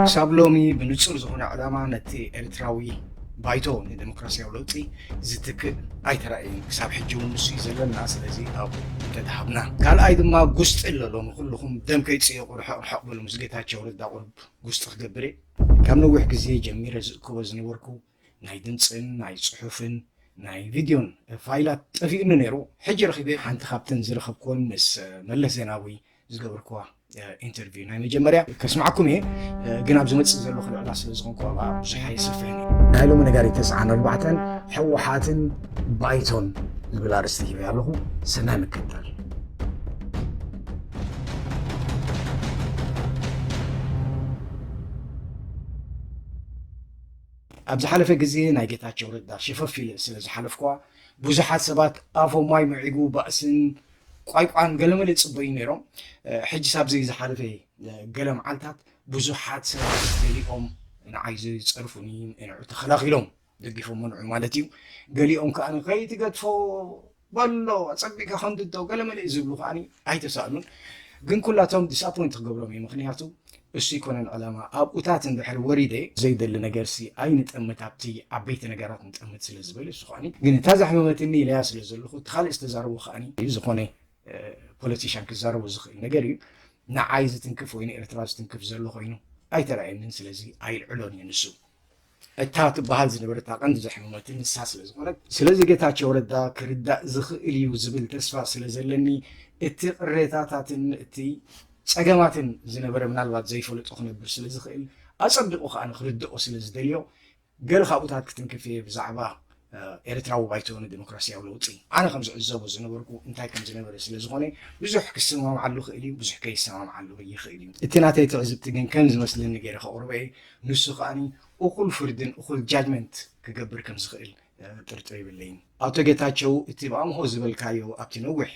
ክሳብ ሎሚ ብንጹር ዝኾነ ዕላማ ነቲ ኤርትራዊ ባይቶ ንደሞክራስያዊ ለውጢ ዝትክእ ኣይተራእየን። ክሳብ ሕጂ እውን ንሱ እዩ ዘለና። ስለዚ ኣብኡ እንተተሃብና። ካልኣይ ድማ ጉስጢ ኣሎ። ሎሚ ኩሉኹም ደም ከይትጽየቑ ርሕቕ ርሕቕ በሉ። ምስ ጌታቸው ረዳ ቁሩብ ጉስጢ ክገብር እየ። ካብ ነዊሕ ግዜ ጀሚረ ዝእክቦ ዝነበርኩ ናይ ድምጽን ናይ ጽሑፍን ናይ ቪድዮን ፋይላት ጠፊኡኒ ነይሩ ሕጂ ረኺበ ሓንቲ ካብተን ዝረኸብክወን ምስ መለስ ዜናዊ ዝገብርክዋ ኢንተርቪው ናይ መጀመርያ ከስማዕኩም እየ ግን ኣብ ዝመፅእ ዘሎ ክልዕላ ስለ ዝኾንኩ ኣብኣ ብዙሕ ኣይስርፈን ናይ ሎሚ ነጋሪት ተስዓን ኣርባዕተን ሕወሓትን ባይቶን ዝብል ኣርእስቲ ሂበ ኣለኹ ሰናይ ምክትታል ኣብ ዝሓለፈ ግዜ ናይ ጌታቸው ረዳ ሸፈፍ ኢለ ስለ ዝሓለፍኩዋ ብዙሓት ሰባት ኣፎም ማይ ምዒጉ ባእስን ቋይቋን ገለመለ ይጽበዩ ነይሮም። ሕጅስ ኣብዚ ዝሓለፈ ገለ መዓልታት ብዙሓት ሰባት ገሊኦም ንዓይ ዝጸርፉኒ እንዑ ተኸላኺሎም ደጊፎሞ ንዑ ማለት እዩ ገሊኦም ከኣ ከይትገድፎ በሎ ኣጸቢቅካ ከምድዶ ገለመለ እዩ ዝብሉ ከኣ ኣይተሳእኑን ግን ኩላቶም ዲስኣፖይንት ክገብሮም እየ ምክንያቱ እሱ ኣይኮነን ዕላማ ኣብኡታት እንድሕር ወሪደ ዘይደሊ ነገርሲ ኣይንጠምት ኣብቲ ዓበይቲ ነገራት ንጠምት ስለ ዝበለ እሱ ከኣ ግን እታ ዘሕመመትኒ ኢለያ ስለ ዘለኹ እቲ ካልእ ዝተዛረቦ ከኣ እዩ ዝኾነ ፖለቲሻን ክዛረቦ ዝኽእል ነገር እዩ ንዓይ ዝትንክፍ ወይ ንኤርትራ ዝትንክፍ ዘሎ ኮይኑ ኣይተራእየንን ስለዚ ኣይልዕሎን እየ ንሱ እታ ትበሃል ዝነበረት ኣቐንዲ ዘሕመመትኒ ንሳ ስለ ዝኾነት፣ ስለዚ ጌታቸው ረዳ ክርዳእ ዝኽእል እዩ ዝብል ተስፋ ስለ ዘለኒ እቲ ቅሬታታትን እቲ ጸገማትን ዝነበረ ምናልባት ዘይፈለጦ ክነብር ስለ ዝኽእል ኣጸቢቑ ከኣ ንኽርደኦ ስለ ዝደልዮ ገለ ካብኡታት ክትንክፍ እየ ብዛዕባ ኤርትራዊ ባይቶ ንደሞክራስያዊ ለውጢ፣ ኣነ ከም ዝዕዘቦ ዝነበርኩ እንታይ ከም ዝነበረ ስለ ዝኾነ፣ ብዙሕ ክሰማምዓሉ እኽእል እዩ፣ ብዙሕ ከይሰማምዓሉ እውን ይኽእል እዩ። እቲ ናተይ ትዕዝብቲ ግን ከም ዝመስለኒ ገይረ ከቕርቦ እየ፣ ንሱ ከኣ እኹል ፍርድን እኹል judgement ክገብር ከም ዝኽእል ጥርጥር የብለይን። ኣቶ ጌታቸው እቲ ብኣምሆ ዝበልካዮ ኣብቲ ነዊሕ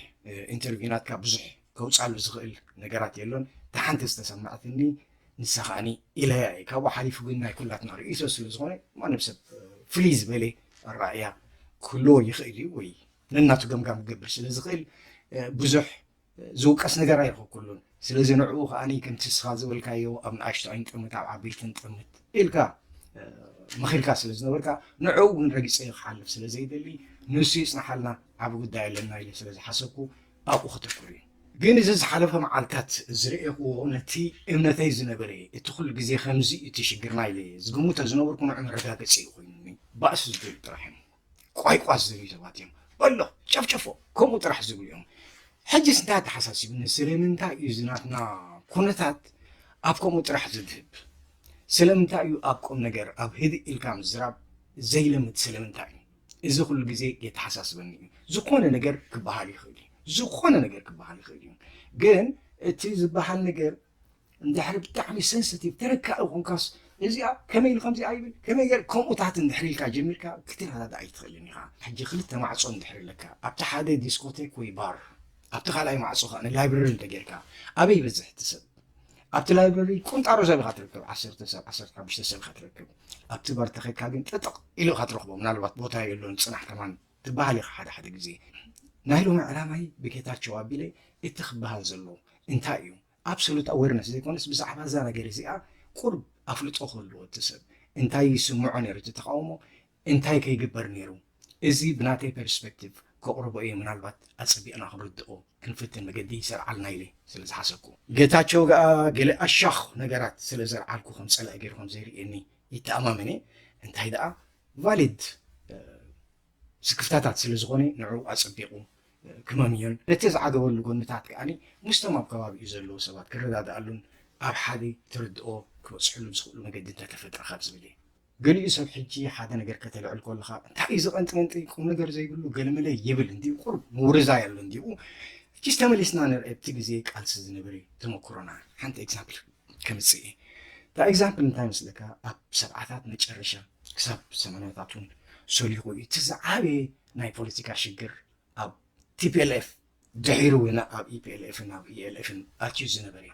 ኢንተርቪው ናትካ ብዙሕ ከውጻሉ ዝኽእል ነገራት የሎን እታ ሓንቲ ዝተሰመዐትኒ ንሳ ከኣኒ ኢለያ እየ ካብኡ ሓሊፉ ግን ናይ ኩላትና ርእይቶ ስለ ዝኾነ ማንም ሰብ ፍልይ ዝበለ ኣረኣእያ ክህልዎ ይኽእል እዩ ወይ ነናቱ ገምጋም ክገብር ስለ ዝኽእል ብዙሕ ዝውቀስ ነገር ኣይረኸብኩሉን ስለዚ ንዕኡ ከኣኒ ከምቲ ንስኻ ዝበልካዮ ኣብ ንኣሽቱ ኣይንጥምት ኣብ ዓበይቲ ንጥምት ኢልካ መኺርካ ስለ ዝነበርካ ንዕኡ እውን ረጊፀ ክሓልፍ ስለ ዘይደሊ ንሱ ይፅናሓልና ዓብ ጉዳይ ኣለና ኢለ ስለ ዝሓሰብኩ ኣብኡ ከተኩር እየ። ግን እዚ ዝሓለፈ መዓልታት ዝረኤኹዎ ነቲ እምነተይ ዝነበረ እየ። እቲ ኩሉ ግዜ ከምዚ እቲ ሽግርና ኢለ እየ ዝግምቶ ዝነበርኩ ንዑ መረጋገጺ እዩ ኮይኑኒ። ባእሲ ዝደልዩ ጥራሕ እዮም። ቋይቋስ ዝደልዩ ሰባት እዮም። በሎ ጨፍጨፎ ከምኡ ጥራሕ ዝብሉ እዮም። ሕጅስ እንታይ ኣተሓሳሲቡኒ ስለምንታይ እዩ እዚ ናትና ኩነታት ኣብ ከምኡ ጥራሕ ዘድህብ? ስለምንታይ እዩ ኣብ ቁምነገር ኣብ ህድእ ኢልካ ምዝራብ ዘይለምድ ስለምንታይ እዩ? እዚ ኩሉ ግዜ የተሓሳስበኒ እዩ። ዝኾነ ነገር ክበሃል ይኽእል እዩ፣ ዝኾነ ነገር ክበሃል ይኽእል እዩ። ግን እቲ ዝበሃል ነገር እንድሕሪ ብጣዕሚ ሰንስቲቭ ተነካኢ ኮንካስ እዚኣ ከመይ ኢሉ ከምዚኣ ይብል ከመይ ገር ከምኡታት እንድሕሪ ኢልካ ጀሚርካ ክትረዳዳ ኣይትኽእልን ኢኻ ሕጂ ክልተ ማዕፆ እንድሕሪ ኣለካ ኣብቲ ሓደ ዲስኮቴክ ወይ ባር ኣብቲ ካልኣይ ማዕፆ ከዓ ንላይብረሪ እንተጌርካ ኣበይ ይበዝሕ እቲ ሰብ ኣብቲ ላይብረሪ ቁንጣሮ ሰብ ኢኻ ትርከብ ዓሰርተ ሰብ ዓሰርተ ሓሙሽተ ሰብ ኢኻ ትረክብ ኣብቲ በር ተኸድካ ግን ጥጥቕ ኢሉ ኢኻ ትረኽቦ ምናልባት ቦታ የሎን ጽናሕ ከማን ትበሃል ኢኻ ሓደ ሓደ ግዜ ናይ ሎሚ ዕላማይ ብጌታቸው ኣቢለ እቲ ክበሃል ዘሎ እንታይ እዩ ኣብሶሉት ኣዌርነስ ዘይኮነስ ብዛዕባ እዛ ነገር እዚኣ ቁርብ ኣፍልጦ ክህልዎ እቲ ሰብ እንታይ ይስምዖ ነይሩ እቲ ተቃውሞ እንታይ ከይግበር ነይሩ እዚ ብናተይ ፐርስፐክቲቭ ከቕርቦ እየ ምናልባት ኣጸቢቕና ክንርድኦ ክንፍትን መገዲ ይሰርዓልና ኢለ ስለ ዝሓሰብኩ። ጌታቸው ገኣ ገለ ኣሻኽ ነገራት ስለ ዘልዓልኩ ከም ጸላኢ ገይሩ ከም ዘይርእየኒ ይተኣማመን እየ እንታይ ደኣ ቫሊድ ስክፍታታት ስለ ዝኾነ ንዕኡ ኣጸቢቑ ክመምዮን ነቲ ዝዓገበሉ ጎንታት ከኣ ምስቶም ኣብ ከባቢኡ ዘለዉ ሰባት ክረዳድኣሉን ኣብ ሓደ ትርድኦ ክበጽሕሉ ዝኽእሉ መገዲ እንተተፈጥረ ካብ ዝብል እየ። ገሊኡ ሰብ ሕጂ ሓደ ነገር ከተልዕል ኮለኻ እንታይ እዩ እዚ ቀንጢመንጢ ቁም ነገር ዘይብሉ ገለመለ ይብል እንዲዩ ቁሩብ ምውርዛይ ኣሎ እንዲኡ ሕጂስ ተመሊስና ንርኤ ኣብቲ ግዜ ቃልሲ ዝነበረ ተመኩሮና ሓንቲ ኤግዛምፕል ከምጽእ እየ እታ ኤግዛምፕል እንታይ መስለካ ኣብ ሰብዓታት መጨረሻ ክሳብ ሰማንያታት እውን ሰሊኹ እዩ እቲ ዝዓበየ ናይ ፖለቲካ ሽግር ኣብ ቲፒኤልኤፍ ድሒሩ እውን ኣብ ኢፒኤልኤፍን ኣብ ኢኤልኤፍን ኣትዩ ዝነበረ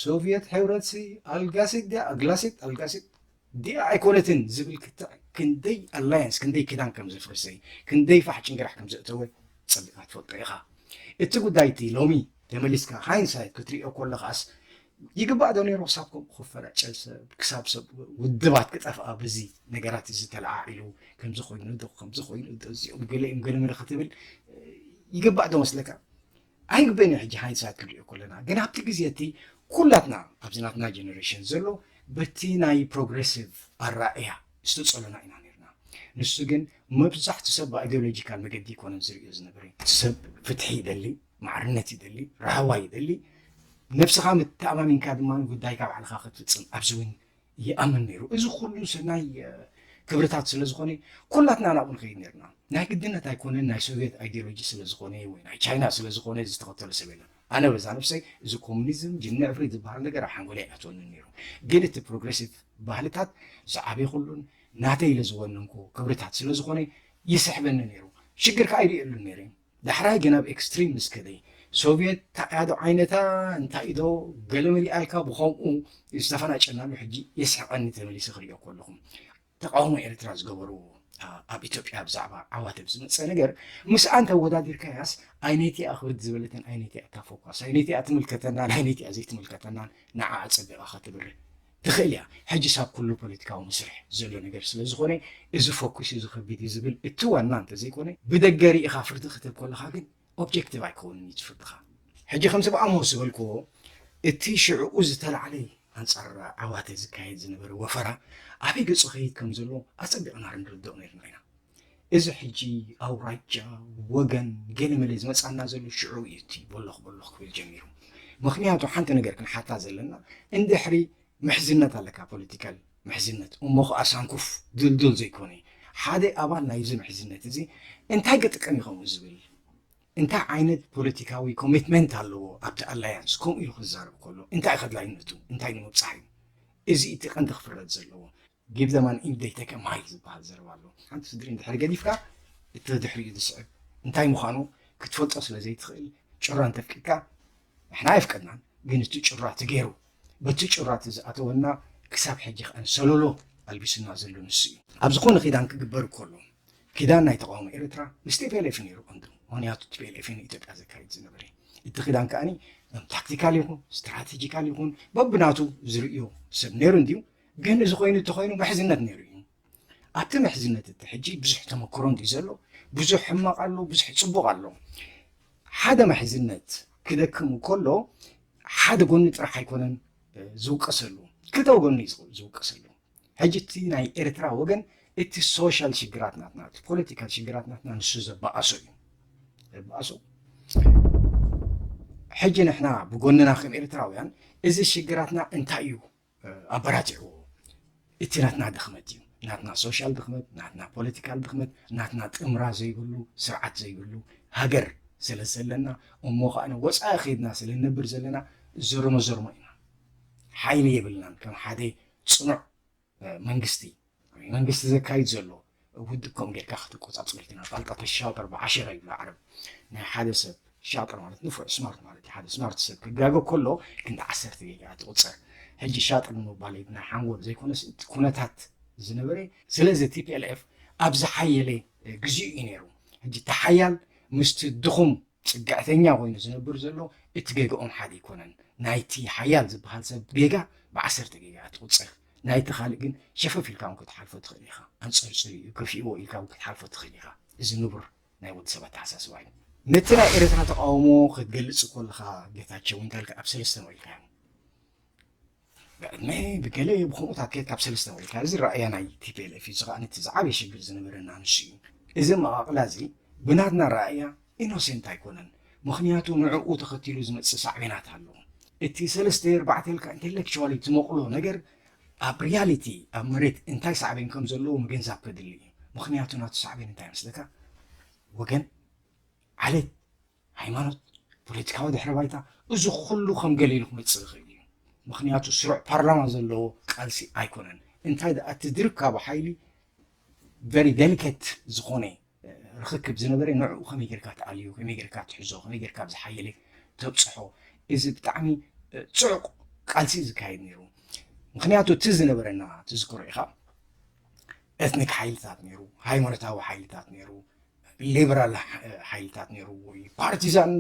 ሶቭየት ሕብረትሲ ኣልጋሲት ድያ ኣግላሲት ኣልጋሲት ድያ ኣይኮነትን ዝብል ክትዕ ክንደይ ኣላያንስ ክንደይ ክዳን ከም ዘፍርሰ ክንደይ ፋሕ ጭንግራሕ ከም ዘእተወ ጸቢቕካ ትፈልጦ ኢኻ እቲ ጉዳይ እቲ ሎሚ ተመሊስካ ሃይንሳይት ክትሪኦ ከለኻስ ይግባእ ዶ ነይሩ ክሳብ ከምኡ ክፈናጨል ሰብ ክሳብ ሰብ ውድባት ክጠፍኣ በዚ ነገራት እዚ ተለዓዒሉ ከምዚ ኮይኑ ዶ ከምዚ ኮይኑ ዶ እዚኦም ገለ እዮም ገለ ምለ ክትብል ይግባእ ዶ መስለካ ኣይግበን ሕጂ ሃይንሳት ክንሪኦ ከለና ግን ኣብቲ ግዜ እቲ ኩላትና ኣብዚ ናትና ጀኔሬሽን ዘሎ በቲ ናይ ፕሮግሬሲቭ ኣራእያ ዝተፀሎና ኢና ነርና ንሱ ግን መብዛሕቱ ሰብ ብኣይዲዮሎጂካል መገዲ ይኮነን ዝርእዮ ዝነበረ ሰብ ፍትሒ ይደሊ ማዕርነት ይደሊ፣ ራህዋ ይደሊ፣ ነብስኻ መተኣማሚንካ ድማ ጉዳይካ ባዕልኻ ክትፍጽም ኣብዚ እውን ይኣምን ነይሩ። እዚ ኩሉ ሰናይ ክብርታት ስለ ዝኾነ ኩላትና ናብኡ ንኸይድ ነርና። ናይ ግድነት ኣይኮነን ናይ ሶቪየት ኣይዲዮሎጂ ስለ ዝኾነ ወይ ናይ ቻይና ስለ ዝኾነ ዝተኸተሎ ሰብ የለን። ኣነ በዛ ነብሰይ እዚ ኮሙኒዝም ጅኒ ዕፍሪት ዝበሃል ነገር ኣብ ሓንጎለይ ኣይኣትወንን ነይሩ። ግን እቲ ፕሮግሬሲቭ ባህልታት ዝዓበኹሉን ናተይ ኢለ ዝወነንኩ ክብርታት ስለ ዝኾነ ይስሕበኒ ነይሩ። ሽግር ከኣ ኣይርእየሉን ነይረ። ዳሕራይ ግን ኣብ ኤክስትሪም ምስ ከደ። ሶቭየት ታዕያዶ ዓይነታ እንታይ ዶ ገለ መሊኣልካ ብኸምኡ ዝተፈናጨናሉ ሕጂ የስሕቐኒ ተመሊሰ ክሪኦ ከለኹ። ተቓውሞ ኤርትራ ዝገበርዎ ኣብ ኢትዮጵያ ብዛዕባ ዓዋተብ ዝመጸ ነገር ምስኣ እንተወዳዲርካያስ ኣይነቲኣ ክብድ ዝበለትን ኣይነቲኣ እታ ፎኳስ ኣይነቲኣ ትምልከተናን ኣይነቲኣ ዘይትምልከተናን ንዓኣ ጸቢቓ ከተብርህ ትኽእል እያ። ሕጅስ ኣብ ኩሉ ፖለቲካዊ መስርሕ ዘሎ ነገር ስለ ዝኾነ እዚ ፈኲሱ ዝኸብድ እዩ ዝብል እቲ ዋና እንተዘይኮነ ብደገ ርኢኻ ፍርዲ ክትህብ ከለኻ ግን ኦብጀክቲቭ ኣይከውንን እዩ እቲ ፍርድኻ። ሕጂ ከምቲ ብኣሞ ዝበልክዎ እቲ ሽዕኡ ዝተላዕለ ኣንጻር ዓዋተ ዝካየድ ዝነበረ ወፈራ ኣበይ ገጹ ይኸይድ ከም ዘሎ ኣጸቢቕና ርንርድኦ ኔርና ኢና። እዚ ሕጂ ኣውራጃ፣ ወገን፣ ገለመለ ዝመጽኣና ዘሎ ሽዑ እዩ እቲ ቦሎኽ ቦሎኽ ክብል ጀሚሩ። ምኽንያቱ ሓንቲ ነገር ክንሓታ ዘለና እንድሕሪ ምሕዝነት ኣለካ ፖለቲካል ምሕዝነት እሞ ኸኣ ሳንኩፍ ድልዱል ዘይኮነ ሓደ ኣባል ናይዚ ምሕዝነት እዚ እንታይ ክጥቀም ይኸውን ዝብል እንታይ ዓይነት ፖለቲካዊ ኮሚትመንት ኣለዎ ኣብቲ ኣላያንስ ከምኡ ኢሉ ክዛረብ ከሎ እንታይ ከድላይነቱ እንታይ ንምብፃሕ እዩ እዚ እቲ ቀንዲ ክፍረድ ዘለዎ ጊቭ ዘም ኣን ኢንድ ደይ ተክ እ ማይክ ዝበሃል ዘረባ ኣሎ። ሓንቲ ስድሪ እንድሕር ገዲፍካ እቲ ድሕሪኡ ዝስዕብ እንታይ ምዃኑ ክትፈልጦ ስለ ዘይትኽእል ጩራ እንተፍቂድካ ንሕና ኣይፍቀድናን ግን እቲ ጩራ እቲ ገይሩ በቲ ጩራ እቲ ዝኣተወና ክሳብ ሕጂ ከኣን ሰሎሎ ኣልቢሱና ዘሎ ንሱ እዩ። ኣብ ዝኾነ ኪዳን ክግበር ከሎ ኪዳን ናይ ተቃውሞ ኤርትራ ምስ ቲፒኤልኤፍ ነይሩ ቀንዱ ምክንያቱ ቲፒኤልኤፍ ንኢትዮጵያ ዘካይድ ዝነበረ እቲ ኪዳን ከኣኒ ታክቲካል ይኹን ስትራቴጂካል ይኹን በብናቱ ዝርእዮ ሰብ ነይሩ እንድዩ ግን እዚ ኮይኑ እንተኾይኑ ምሕዝነት ነይሩ እዩ። ኣብቲ ምሕዝነት እቲ ሕጂ ብዙሕ ተመክሮ እንድዩ ዘሎ፣ ብዙሕ ሕማቕ ኣሎ፣ ብዙሕ ጽቡቕ ኣሎ። ሓደ ምሕዝነት ክደክም ከሎ ሓደ ጎኒ ጥራሕ ኣይኮነን ዝውቀሰሉ፣ ክልተ ጎኒ እዩ ዝውቀሰሉ። ሕጂ እቲ ናይ ኤርትራ ወገን እቲ ሶሻል ሽግራት ናትና እቲ ፖለቲካል ሽግራት ናትና ንሱ ዘበኣሶ እዩ ዘበኣሶ ሕጂ ንሕና ብጎንና ከም ኤርትራውያን እዚ ሽግራትና እንታይ እዩ ኣበራቲዕዎ እቲ ናትና ድኽመት እዩ ናትና ሶሻል ድኽመት ናትና ፖለቲካል ድኽመት ናትና ጥምራ ዘይብሉ ስርዓት ዘይብሉ ሃገር ስለ ዘለና እሞ ከዓነ ወፃኢ ከይድና ስለ ንነብር ዘለና ዘርሞ ዘርሞ ኢና ሓይሊ የብልናን ከም ሓደ ፅኑዕ መንግስቲ መንግስቲ ዘካይድ ዘሎ ውድብ ከምኡ ጌርካ ክትቆጻጸሮ ኣይትኽእልን። ኣፋልጣ ተሻጥር ብዓሸራ ይብሉ ዓረብ። ናይ ሓደ ሰብ ሻጥር ማለት ንፉዕ ስማርት ማለት እዩ። ሓደ ስማርት ሰብ ክጋገ ከሎ ክንዲ ዓሰርተ ጌጋ እያ ትቑጸር። ሕጂ ሻጥር ንምባል ናይ ሓንጎል ዘይኮነስ እቲ ኩነታት ዝነበረ ስለዚ ቲፒኤልኤፍ ኣብ ዝሓየለ ግዜኡ እዩ ነይሩ። ሕጂ እቲ ሓያል ምስቲ ድኹም ጽግዕተኛ ኮይኑ ዝነብር ዘሎ እቲ ጌጋኦም ሓደ ኣይኮነን። ናይቲ ሓያል ዝበሃል ሰብ ጌጋ ብዓሰርተ ጌጋ እያ ትቑጸር። ናይቲ ካልእ ግን ሸፈፍ ኢልካ እውን ክትሓልፎ ትኽእል ኢኻ። ኣንጸርጺሩ እዩ ከፊእዎ ኢልካ እውን ክትሓልፎ ትኽእል ኢኻ። እዚ ንቡር ናይ ወዲ ሰብ ኣተሓሳስባ እዩ። ነቲ ናይ ኤርትራ ተቓውሞ ክትገልጽ ኮለኻ ጌታቸው እንዳልክ ኣብ ሰለስተ መቒልካዮም። ብዕድመ ብገለ ብከምኡታት ኬድካ ብ ሰለስተ ወሪድካ እዚ ራእያ ናይ tplf እዩ እዚ ከኣ እቲ ዝዓበየ ሽግር ዝነበረና ንሱ እዩ እዚ ኣመቓቕላ እዚ ብናትና ራእያ ኢኖሴንት ኣይኮነን ምኽንያቱ ንዕኡ ተኸቲሉ ዝመጽእ ሳዕቤናት ኣሎ እቲ ሰለስተ ኣርባዕተ ኢልካ ኢንተሌክቹዋሊ ትመቕሎ ነገር ኣብ ሪያሊቲ ኣብ መሬት እንታይ ሳዕቤን ከም ዘለዎ ምግንዛብ ከድሊ እዩ ምኽንያቱ ናቱ ሳዕቤን እንታይ መስለካ ወገን ዓሌት ሃይማኖት፣ ፖለቲካዊ ድሕረ ባይታ፣ እዚ ኩሉ ከም ገሊሉ ክመጽእ ይኽእል እዩ። ምኽንያቱ ስሩዕ ፓርላማ ዘለዎ ቃልሲ ኣይኮነን። እንታይ ደኣ እቲ ዝርካቡ ሓይሊ ቨሪ ደሊኬት ዝኾነ ርኽክብ ዝነበረ ንዕኡ ከመይ ጌርካ ትኣልዮ፣ ከመይ ጌርካ ትሕዞ፣ ከመይ ጌርካ ኣብ ዝሓየለ ተብጽሖ፣ እዚ ብጣዕሚ ጽዑቕ ቃልሲ ዝካየድ ነይሩ። ምክንያቱ እቲ ዝነበረና ትዝክሮ ኢኻ ኤትኒክ ሓይልታት ነይሩ፣ ሃይማኖታዊ ሓይልታት ነይሩ፣ ሊበራል ሓይልታት ነይርዎ እዩ። ፓርቲዛን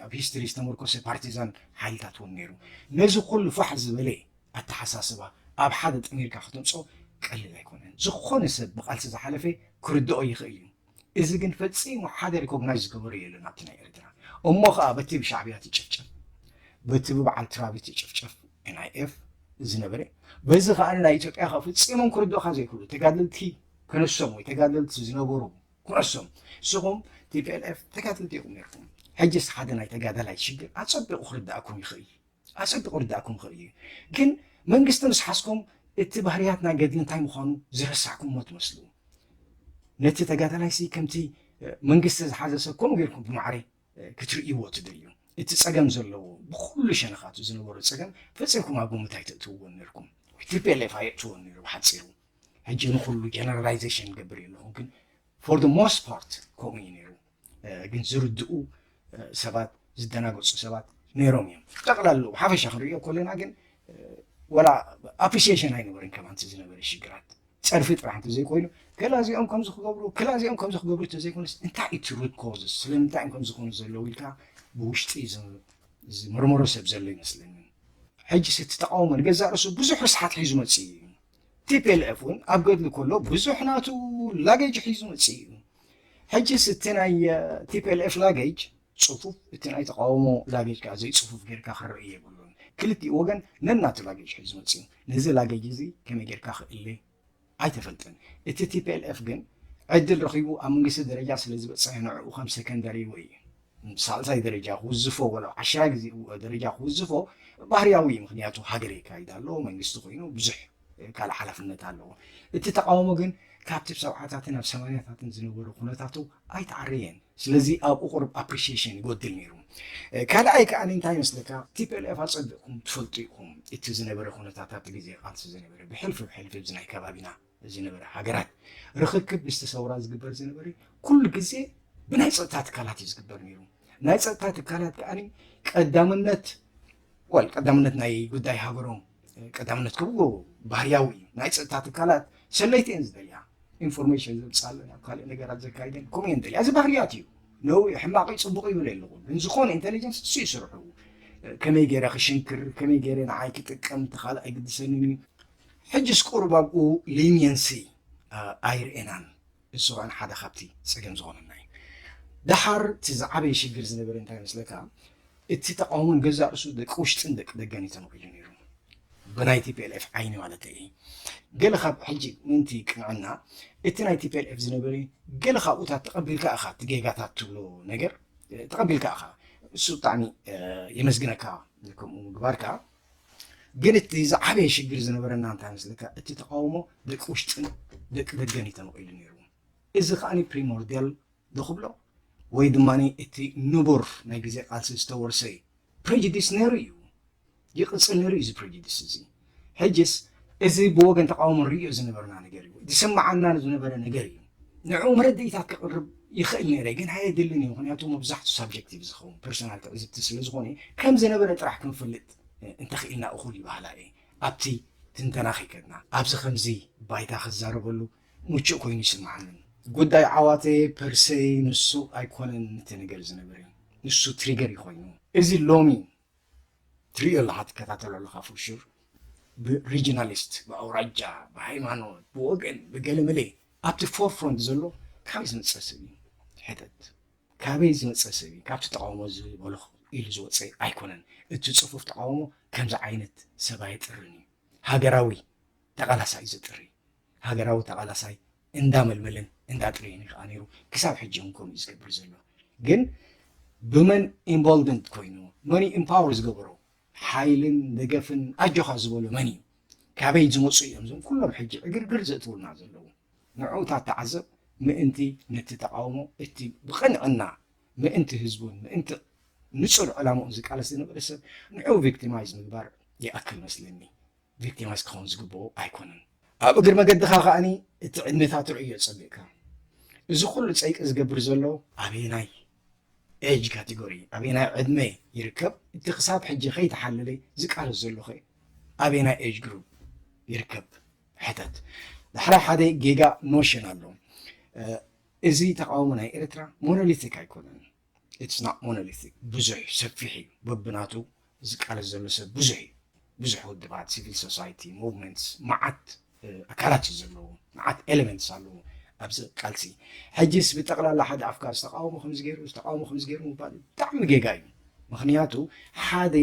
ኣብ ሂስትሪ ዝተመርኮሰ ፓርቲዛን ሓይልታት እውን ነይሩ። ነዚ ኩሉ ፋሕ ዝበለ ኣተሓሳስባ ኣብ ሓደ ጠሚርካ ክትምፆ ቀሊል ኣይኮነን። ዝኾነ ሰብ ብቃልሲ ዝሓለፈ ክርድኦ ይኽእል እዩ። እዚ ግን ፈፂሙ ሓደ ሪኮግናይዝ ዝገበሮ የለን ኣብቲ ናይ ኤርትራ እሞ ከዓ በቲ ብሻዕብያ ትጭፍጨፍ በቲ ብበዓል ትራቢ ትጭፍጨፍ ኤንኣይኤፍ ዝነበረ በዚ ከዓ ናይ ኢትዮጵያ ከዓ ፈፂሞም ክርድኦካ ዘይክእሉ ተጋደልቲ ክንሶም ወይ ተጋደልቲ ዝነበሩ ኩዕሶም ንስኹም ቲፒኤልኤፍ ተጋደልቲ ኢኹም ነርኩም ሕጅስ ሓደ ናይ ተጋዳላይ ሽግር ኣጸቢቑ ክርዳእኩም ይኽእል እዩ ኣጸቢቑ ክርዳእኩም ይኽእል እዩ ግን መንግስቲ ምስ ሓዝኩም እቲ ባህርያት ናይ ገድሊ እንታይ ምዃኑ ዝረሳዕኩምዎ ትመስሉ ነቲ ተጋዳላይሲ ከምቲ መንግስቲ ዝሓዘ ሰብ ከምኡ ጌርኩም ብማዕረ ክትርእይዎ ትደልዩ እቲ ፀገም ዘለዎ ብኩሉ ሸነኻቱ ዝነበሩ ፀገም ፈፂምኩም ኣብ ግምት ኣይተእትውዎን ነርኩም ቲፒኤልኤፍ ኣየእትዎን ነይሩ ብሓፂሩ ሕጂ ንኹሉ ጀነራላይዜሽን ገብር እየ ኣለኹ ግን ፎር ደ ሞስት ፓርት ከምኡ እዩ ነይሩ ግን ዝርድኡ ሰባት ዝደናገፁ ሰባት ነይሮም እዮም ጠቕላሉ ሓፈሻ ክንሪኦ ከለና ግን ወላ ኣፕሪሲሽን ኣይነበርን ከማ እቲ ዝነበረ ሽግራት ፀርፊ ጥራሕ እንተዘይኮይኑ ገላ እዚኦም ከም ዝክገብሩ ክላ እዚኦም ከም ዝክገብሩ እንተዘይኮነስ እንታይ እቲ ሩት ኮዝስ ስለምንታይ እዮም ከም ዝኾኑ ዘለዉ ኢልካ ብውሽጢ ዝምርምሮ ሰብ ዘሎ ይመስለኒ ሕጂ እቲ ተቃውሞ ንገዛእ ርእሱ ብዙሕ ርስሓት ሒዙ መፅእ እዩ Tplf ውን ኣብ ገድሊ ኮሎ ብዙሕ ናቱ ላገጅ ሒዙ መጺኡ እዩ። ሕጂስ እቲ ናይ Tplf ላገጅ ጽፉፍ እቲ ናይ ተቃውሞ ላገጅ ከኣ ዘይጽፉፍ ጌርካ ክረኤ የብሉን። ክልቲኡ ወገን ነናቱ ላገጅ ሒዙ መጺኡ። ነዚ ላገጅ እዚ ከመይ ጌርካ ክእለ ኣይተፈልጠን። እቲ Tplf ግን ዕድል ረኺቡ ኣብ መንግስቲ ደረጃ ስለዝበጸሐ ንዕኡ ከም ሰከንደሪ ወይ። ን ሳልሳይ ደረጃ ክውዝፎ ወላ ብ ዓሽራይ ግዜ ደረጃ ክውዝፎ ባህርያዊ እዩ ምክንያቱ ሃገር የካይድ ኣሎ መንግስቲ ኮይኑ ብዙሕ ካልእ ሓላፍነት ኣለዎ እቲ ተቃውሞ ግን ካብቲ ብ ሰብዓታትን ኣብ ሰማንያታትን ዝነበሮ ኩነታቱ ኣይተዓረየን ስለዚ ኣብኡ ቁሩብ ኣፕሪሽየሽን ይጎድል ኔሩ ካልኣይ ከኣ እንታይ ይመስለካ ቲፒኤልኤፍ ኣጸቢቕኩም ትፈልጡ ኢኹም እቲ ዝነበረ ኩነታት ኣብቲ ግዜ ቃልሲ ዝነበረ ብሕልፊ ብሕልፊ እዚ ናይ ከባቢና ዝነበረ ሃገራት ርኽክብ ምስቲ ሰውራ ዝግበር ዝነበረ ኩሉ ግዜ ብናይ ፀጥታ ትካላት እዩ ዝግበር ነይሩ ናይ ፀጥታ ትካላት ከዓኒ ቀዳምነት ወል ቀዳምነት ናይ ጉዳይ ሃገሮም ቀዳምነት ክብሉ ባህርያዊ እዩ ናይ ፀጥታ ትካላት ሰለይቲ እየን ዝደልያ ኢንፎርሜሽን ዘምፃለን ኣብ ካልእ ነገራት ዘካይደን ከምኡ እየን ደልያ እዚ ባህርያት እዩ ነው ሕማቅ ፅቡቅ ይብል ኣለኹ ግን ዝኾነ ኢንቴሊጀንስ እሱ ይስርሑ ከመይ ገይረ ክሽንክር ከመይ ገይረ ንዓይ ክጥቀም ተካልእ ኣይግድሰንን እዩ ሕጅስ ቁሩብ ኣብኡ ሊንየንሲ ኣይርኤናን እሱ ከኣ ሓደ ካብቲ ጸገም ዝኮነና እዩ ደሓር እቲ ዝዓበየ ሽግር ዝነበረ እንታይ መስለካ እቲ ተቃውሞ ንገዛእ ርእሱ ደቂ ውሽጥን ደቂ ደገን እዩ ተመቂሉ ነይሩ ብናይ ቲፒኤልኤፍ ዓይኒ ማለተይ እየ ገለ ካብ ሕጂ ምንቲ ቅንዕና እቲ ናይ ቲፒኤልኤፍ ዝነበረ ገለ ካብኡታት ተቐቢልካ እኻ እቲ ጌጋታት ትብሎ ነገር ተቐቢልካ እኻ እሱ ብጣዕሚ የመስግነካ ከምኡ ምግባርካ ግን እቲ ዝዓበየ ሽግር ዝነበረና እንታይ መስለካ እቲ ተቃውሞ ደቂ ውሽጥን ደቂ ደገን እዩ ተመቂሉ ነይሩ እዚ ከዓኒ ፕሪሞርዲያል ዝኽብሎ ወይ ድማ እቲ ንቡር ናይ ግዜ ቃልሲ ዝተወርሰ እዩ ፕሬጅዲስ ነይሩ እዩ ይቕፅል ነይሩ እዩ እዚ ፕሬጅዲስ እዚ ሕጅስ እዚ ብወገን ተቃውሞ ንሪኦ ዝነበርና ነገር እዩ ዝስምዓና ዝነበረ ነገር እዩ ንዕኡ መረድኢታት ክቕርብ ይኽእል ነይረ ግን ኣየድልን ኢዩ ምኽንያቱ መብዛሕቱ ሳብጀክቲቭ ዝኸውን ፐርሰናል ትዕዝብቲ ስለ ዝኾነ ከም ዝነበረ ጥራሕ ክንፈልጥ እንተኽኢልና እኹል ይበሃላ እየ ኣብቲ ትንተና ከይከድና ኣብዚ ከምዚ ባይታ ክዛረበሉ ምቹእ ኮይኑ ይስምዓኒ ጉዳይ ዓዋተ ፐርሰይ ንሱ ኣይኮነን እቲ ነገር ዝነበረ ንሱ ትሪገር እዩ ኮይኑ እዚ ሎሚ ትሪኦ ኣለኻ ትከታተሎ ኣለኻ ፎር ሹር ብሪጂናሊስት ብኣውራጃ ብሃይማኖት ብወገን ብገለመለ ኣብቲ ፎር ፍሮንት ዘሎ ካበይ ዝመፀ ሰብ እዩ ሕተት ካበይ ዝመፀ ሰብ እዩ ካብቲ ተቃውሞ ዝበልኹ ኢሉ ዝወፀ ኣይኮነን እቲ ፅፉፍ ተቃውሞ ከምዚ ዓይነት ሰብ ኣይጥርን እዩ ሃገራዊ ተቃላሳይ ዝጥሪ ሃገራዊ ተቓላሳይ እንዳ መልመለን እንዳ ኣጥረየን እዩ ከኣ ነይሩ ክሳብ ሕጂ ውን ከምኡ እዩ ዝገብር ዘሎ ግን ብመን ኢንቮልቭመንት ኮይኑ መን እዩ ኢምፓወር ዝገበሮ ሓይልን ደገፍን ኣጆኻ ዝበሎ መን እዩ ካበይ ዝመፁ እዮም እዞም ኩሎም ሕጂ ዕግርግር ዘእትውልና ዘለዉ ንዑ ታተዓዘብ ምእንቲ ነቲ ተቃውሞ እቲ ብቕንዕና ምእንቲ ህዝቡን ምእንቲ ንፁር ዕላምኡን ዝቃለስ ዝነበረ ሰብ ንዑ ቪክቲማይዝ ምግባር ይኣክል መስለኒ ቪክቲማይዝ ክኸውን ዝግብኦ ኣይኮነን። ኣብ እግሪ መገድኻ ከኣኒ እቲ ዕድሜታቱ ርእዮ ጸቢቕካ እዚ ኩሉ ጸይቂ ዝገብር ዘሎ ኣበየናይ ኤጅ ካቴጎሪ ኣበየናይ ዕድመ ይርከብ? እቲ ክሳብ ሕጂ ከይተሓለለ ዝቃለስ ዘሎኸ ኣበየናይ ኤጅ ግሩፕ ይርከብ? ሕተት። ዳሕራይ ሓደ ጌጋ ኖሽን ኣሎ። እዚ ተቃውሞ ናይ ኤርትራ ሞኖሊቲክ ኣይኮነን። ኢትስ ናት ሞኖሊቲክ ብዙሕ እዩ ሰፊሕ እዩ በብናቱ ዝቃለስ ዘሎ ሰብ ብዙሕ እዩ ብዙሕ ውድባት ሲቪል ሶሳይቲ ሙቭመንትስ መዓት ኣካላት እዩ ዘለዎ መዓት ኤሌመንትስ ኣለዎ ኣብዚ ቃልሲ ሕጅስ ብጠቕላላ ሓደ ኣፍካር ዝተቃወሙ ከምዚ ገይሩ ዝተቃወሙ ከምዚ ገይሩ ምባል ብጣዕሚ ጌጋ እዩ ምክንያቱ ሓደ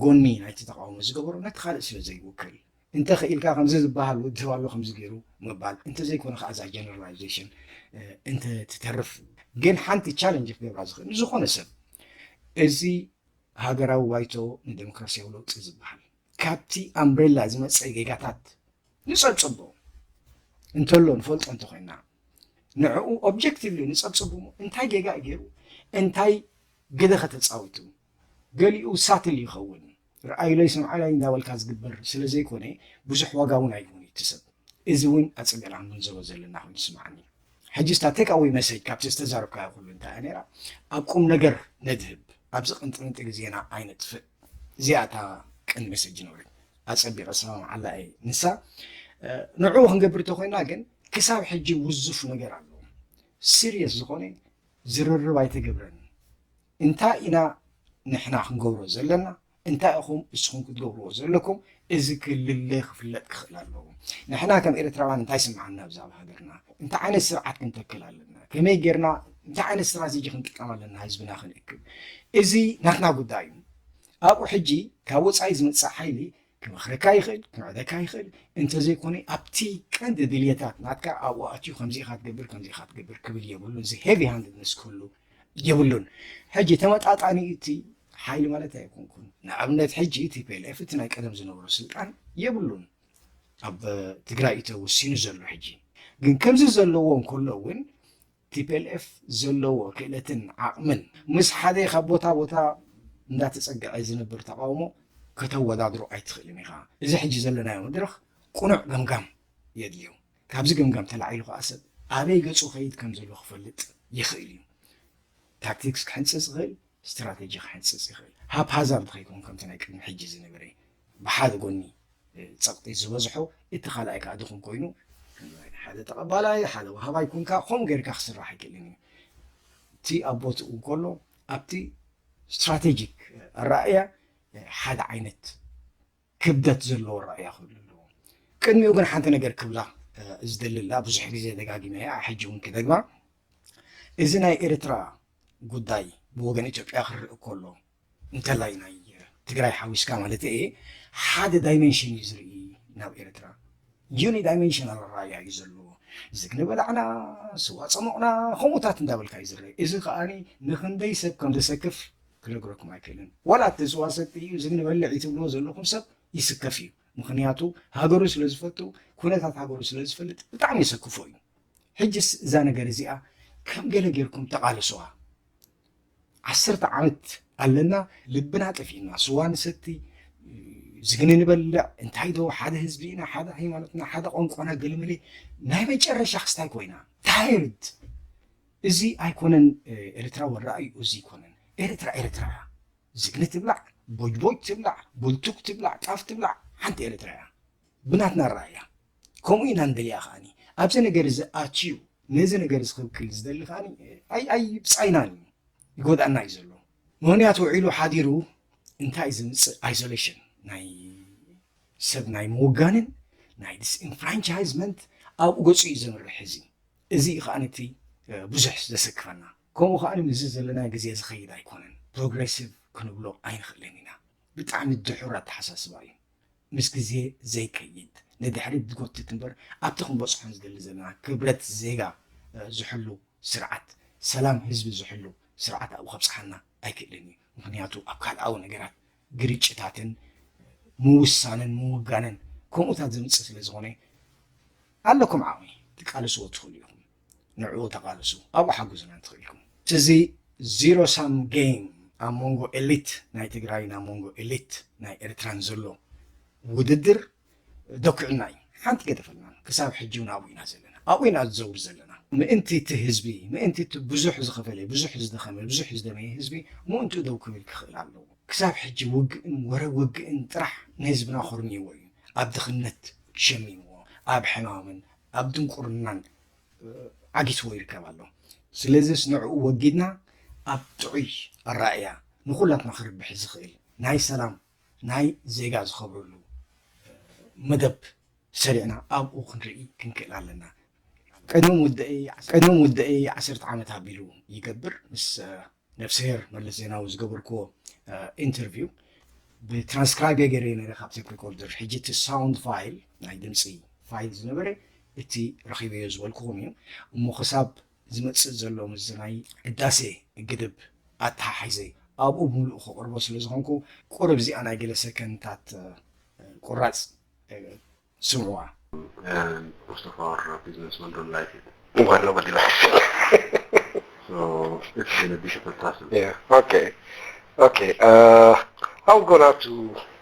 ጎኒ ናይቲ ተቃውሞ ዝገበሮ ነቲ ካልእ ስለ ዘይውክል እንተ ኽኢልካ ከምዚ ዝብሃል ውድብ ኣሎ ከምዚ ገይሩ ምባል እንተ ዘይኮነ ኸኣ እዛ ጀነራላይዜሽን እንተ ትተርፍ ግን ሓንቲ ቻለንጅ ክገብራ ዝኽእል ንዝኾነ ሰብ እዚ ሃገራዊ ባይቶ ንደሞክራስያዊ ለውጢ ዝብሃል ካብቲ ኣምብሬላ ዝመጸ ጌጋታት ንጸብጽቦ እንተሎ ንፈልጦ እንተ ኾይና ንዕኡ ኦብጀክቲቭሊ ንጸብጽቦ እንታይ ጌጋ እዩ ገይሩ እንታይ ግደ ከተጻዊቱ ገሊኡ ሳትል ይኸውን ርኣዩለይ ስምዓለይ እንዳበልካ ዝግበር ስለ ዘይኮነ ብዙሕ ዋጋ ውን ኣይህቡን እቲ ሰብ እዚ ውን ኣጸቢቕና ክንግንዘቦ ዘለና ኮይኑ ይስምዓኒ ሕጂስ እታ ቴክ ኣወይ መሰጅ ካብቲ ዝተዛረብካዮ ኩሉ እንታይ እያ ነይራ ኣብ ቁም ነገር ነድህብ ኣብዚ ቅንጥንጢ ግዜና ኣይነጥፍእ እዚኣ እታ ቅን መሰጅ ነበረት ኣጸቢቐ ዝሰማምዓላ እየ ንሳ ንዕኡ ክንገብር እንተኮይና ግን ክሳብ ሕጂ ውዙፍ ነገር ኣሎ ሲሪየስ ዝኾነ ዝርርብ ኣይተገብረን እንታይ ኢና ንሕና ክንገብሮ ዘለና፣ እንታይ ኢኹም እስኹም ክትገብርዎ ዘለኩም፣ እዚ ክልለ ክፍለጥ ክኽእል ኣለዎ። ንሕና ከም ኤርትራውያን እንታይ ይስምዓና ብዛዕባ ሃገርና፣ እንታይ ዓይነት ስርዓት ክንተክል ኣለና፣ ከመይ ጌርና እንታይ ዓይነት ስትራቴጂ ክንጥቀም ኣለና ህዝብና ክንእክብ፣ እዚ ናትና ጉዳይ እዩ። ኣብኡ ሕጂ ካብ ወጻኢ ዝመጽእ ሓይሊ ክመኽረካ ይኽእል፣ ክምዕደካ ይኽእል፣ እንተዘይኮነ ኣብቲ ቀንዲ ድልየታት ናትካ ኣብኡ ኣትዩ ከምዚ ኢኻ ትገብር ከምዚ ኢኻ ትገብር ክብል የብሉን። እዚ ሄቪ ሃንድነስ ክህሉ የብሉን። ሕጂ ተመጣጣኒ እቲ ሓይሊ ማለት ኣይኮንኩን። ንኣብነት ሕጂ ቲፒኤልኤፍ እቲ ናይ ቀደም ዝነበሮ ስልጣን የብሉን ኣብ ትግራይ እዩ ተወሲኑ ዘሎ ሕጂ ግን ከምዚ ዘለዎ እንከሎ እውን ቲፔልኤፍ ዘለዎ ክእለትን ዓቕምን ምስ ሓደ ካብ ቦታ ቦታ እንዳተጸግዐ ዝነብር ተቓውሞ ከተወዳድሮ ኣይትኽእልን ኢኻ። እዚ ሕጂ ዘለናዮ መድረኽ ቅኑዕ ገምጋም የድልዮ። ካብዚ ገምጋም ተላዒሉ ከኣ ሰብ ኣበይ ገጹ ይኸይድ ከምዘሎ ክፈልጥ ይኽእል እዩ። ታክቲክስ ክሕንጽጽ ይኽእል። ስትራተጂ ክሕንጽጽ ይኽእል። ሃፕሃዛርድ ከይከውን ከምቲ ናይ ቅድሚ ሕጂ ዝነበረ ብሓደ ጎኒ ጸቕጢ ዝበዝሖ እቲ ካልኣይ ከኣ ድኹም ኮይኑ ክንርኢ። ሓደ ተቐባላይ ሓደ ወሃባይ ኩንካ ከምኡ ጌርካ ክስራሕ ኣይክእልን እዩ። እቲ ኣብ ቦትኡ እንከሎ ኣብቲ ስትራተጂክ ኣረኣእያ ሓደ ዓይነት ክብደት ዘለዎ ኣረኣእያ ክህሉ ኣለዎ። ቅድሚኡ ግን ሓንቲ ነገር ክብላ ዝደሊ ኣላ፣ ብዙሕ ግዜ ደጋጊመያ ሕጂ እውን ክደግማ፣ እዚ ናይ ኤርትራ ጉዳይ ብወገን ኢትዮጵያ ክርእ ከሎ፣ እንተላይ ናይ ትግራይ ሓዊስካ ማለተይ እየ፣ ሓደ ዳይመንሽን እዩ ዝርኢ ናብ ኤርትራ። ዩኒ ዳይመንሽናል ኣረኣእያ እዩ ዘለዎ። ዝግኒ በላዕና፣ ስዋ ጸሞቕና ከምኡታት እንዳበልካ እዩ ዝረእ። እዚ ከኣ ንክንደይ ሰብ ከም ዘሰክፍ ክነግረኩም ኣይክእልን ዋላ እቲ ስዋ ሰቲ እዩ እዚ ንበልዒ ትብልዎ ዘለኹም ሰብ ይስከፍ እዩ ምኽንያቱ ሃገሩ ስለ ዝፈቱ ኩነታት ሃገሩ ስለ ዝፈልጥ ብጣዕሚ የሰክፎ እዩ ሕጅስ እዛ ነገር እዚኣ ከም ገለ ጌርኩም ተቓለሱዋ ዓሰርተ ዓመት ኣለና ልብና ጠፊእና ስዋ ንሰቲ ዝግኒ ንበልዕ እንታይ ዶ ሓደ ህዝቢ ኢና ሓደ ሃይማኖትና ሓደ ቋንቋና ገለመለ ናይ መጨረሻ ክስታይ ኮይና ታይርድ እዚ ኣይኮነን ኤርትራዊ ኣራእይኡ እዚ ኣይኮነን ኤርትራ ኤርትራ እያ ዝግኒ ትብላዕ ቦጅቦጅ ትብላዕ ቡልቱክ ትብላዕ ጣፍ ትብላዕ ሓንቲ ኤርትራ እያ ብናትና ኣራእያ ከምኡ ኢና ንደልያ ከኣ ኣብዚ ነገር እዚ ኣትዩ ነዚ ነገር እዚ ክብክል ዝደሊ ከኣ ኣይ ኣይ ብጻይናን እዩ ይጎድኣና እዩ ዘሎ ምክንያቱ ውዒሉ ሓዲሩ እንታይ እዩ ዝምጽእ ኣይሶሌሽን ናይ ሰብ ናይ ምውጋንን ናይ ዲስኢንፍራንቻይዝመንት ኣብኡ ገጹ እዩ ዘምርሕ እዚ እዚ እዩ ከኣ እቲ ብዙሕ ዘሰክፈና። ከምኡ ከኣ ምስዚ ዘለና ግዜ ዝኸይድ ኣይኮነን። ፕሮግረሲቭ ክንብሎ ኣይንኽእልን ኢና። ብጣዕሚ ድሑር ኣተሓሳስባ እዩ። ምስ ግዜ ዘይከይድ፣ ንድሕሪት ዝጎትት እምበር ኣብቲ ክንበጽሖ ንዝደሊ ዘለና ክብረት ዜጋ ዝሕሉ ስርዓት፣ ሰላም ህዝቢ ዝሕሉ ስርዓት ኣብኡ ከብጽሓና ኣይክእልን እዩ። ምኽንያቱ ኣብ ካልኣዊ ነገራት ግርጭታትን ምውሳንን ምውጋንን ከምኡታት ዘምጽእ ስለ ዝኾነ ኣለኩም ዓቕሚ ትቃልስዎ ትኽእሉ ኢኹም ንዕኡ ተቓልሱ ኣብኡ ሓጉዙና እንትኽእልኩም እዚ ዚሮ ሳም ጌም ኣብ መንጎ ኤሊት ናይ ትግራይን ኣብ መንጎ ኤሊት ናይ ኤርትራን ዘሎ ውድድር ደኲዑና እዩ ሓንቲ ገደፈልናን ክሳብ ሕጂ ውን ኣብኡ ኢና ዘለና ኣብኡ ኢና ዝዘውር ዘለና ምእንቲ እቲ ህዝቢ ምእንቲ እቲ ብዙሕ ዝኸፈለ ብዙሕ ዝደኸመ ብዙሕ ዝደመየ ህዝቢ ምእንትኡ ደው ክብል ክኽእል ኣለዎ ክሳብ ሕጂ ውግእን ወረ ውግእን ጥራሕ ንህዝብና ኮርሚዎ እዩ ኣብ ድኽነት ሸሚምዎ ኣብ ሕማምን ኣብ ድንቁርናን ዓጊትዎ ይርከብ ኣሎ ስለዚስ ንዕኡ ወጊድና ኣብ ጥዑይ ኣራእያ ንኹላትና ክርብሕ ዝኽእል ናይ ሰላም ናይ ዜጋ ዝኸብረሉ መደብ ሰሪዕና ኣብኡ ክንርኢ ክንክእል ኣለና። ቅድሚ ውዳኤይ ዓሰርተ ዓመት ኣቢሉ ይገብር ምስ ነፍስሄር መለስ ዜናዊ ዝገበርክዎ ኢንተርቪው ብትራንስክራይብ ገይረ ነረ ካብ ቴፕ ሪኮርደር ሕጂ እቲ ሳውንድ ፋይል ናይ ድምፂ ፋይል ዝነበረ እቲ ረኺበዮ ዝበልክኹም እዩ እሞ ክሳብ ዝመጽእ ዘሎ ምስ ናይ ህዳሴ ግድብ ኣተሓሒዘ ኣብኡ ብምሉኡ ከቕርቦ ስለ ዝኾንኩ ቁርብ እዚኣ ናይ ገለ ሰከንታት ቁራጽ ስምዑዋ። ሙስተፋር ቢዝነስ ማን ዶንት ላይክ ኢት ዋት ኖባዲ ላይክስ ሶ ኢትስ ጎና ቢ ዲፊካልት ታስክ ኦኬ ኦኬ ኣም ጎና ቱ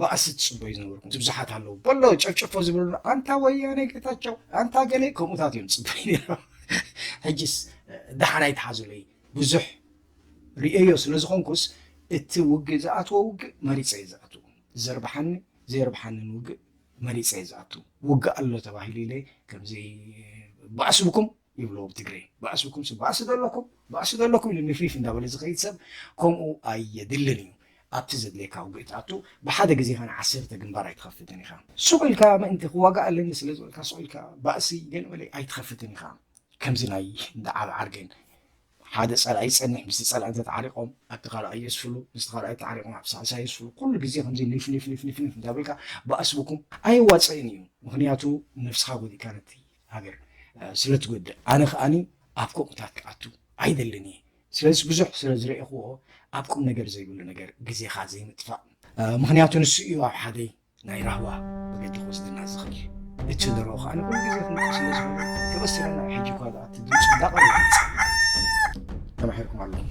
ባእሲ ትጽበዩ ዝነበርኩም እቲ ብዙሓት ኣለዉ በሎ ጨፍጨፎ ዝብሉ ኣንታ ወያነ ጌታቸው ኣንታ ገሌ ከምኡታት እዮም ዝጽበዩ ነይሮም ሕጅስ ደሓን ኣይትሓዙለይ ብዙሕ ርእዮ ስለ ዝኾንኩስ እቲ ውግእ ዝኣትዎ ውግእ መሪፀ እዩ ዝኣትዉ ዘርብሓኒ ዘየርብሓንን ውግእ መሪፀ እዩ ዝኣትዉ ውግእ ኣሎ ተባሂሉ ኢለ ከምዘይ ባእስብኩም ይብልዎ ብትግሬ ባእስኩም ስብ ባእሲ ደለኩም ባእሲ ደለኩም ኢሉ ኒፍኒፍ እንዳበለ ዝከይድ ሰብ ከምኡ ኣየድልን እዩ ኣብቲ ዘድልየካ ውግእ ትኣቱ ብሓደ ግዜ ከኣ ዓሰርተ ግንባር ኣይትከፍትን ኢካ ሱቅ ኢልካ ምእንቲ ክዋጋእ ኣለኒ ስለ ዝበልካ ሱቅ ኢልካ ባእሲ ገለ መለ ኣይትከፍትን ኢካ ከምዚ ናይ እንዳ ዓብዓር ግን ሓደ ጸላኢ ይጸንሕ ምስቲ ጸላኢ እንተ ተዓሪቆም ኣብቲ ካልኣይ የስፍሉ ምስቲ ካልኣይ ተዓሪቆም ኣብ ሳልሳይ የስፍሉ ኩሉ ግዜ ከምዚ ኒፍኒፍኒፍኒፍኒፍ እንዳበልካ ባእሲ ብኩም ኣይዋጽእን እዩ ምክንያቱ ነብስካ ጎዲእካ ነቲ ሃገር ስለ ትጎድእ ኣነ ከኣኒ ኣብ ከምኡታት ክኣቱ ኣይደልን እየ ስለዚ ብዙሕ ስለ ዝረኤኽዎ ኣብ ቁም ነገር ዘይብሉ ነገር ግዜኻ ዘይምጥፋእ ምክንያቱ ንሱ እዩ ኣብ ሓደይ ናይ ራህዋ መገዲ ክወስደና ዝኽእል እቲ ንሮ ከዓ ንኩሉ ግዜ ክንቁ ስለ ዝኾነ ተበሲረና ሕጂ እኳ ደኣ እቲ ድምፂ እንዳቐረ ተማሒርኩም ኣለኹም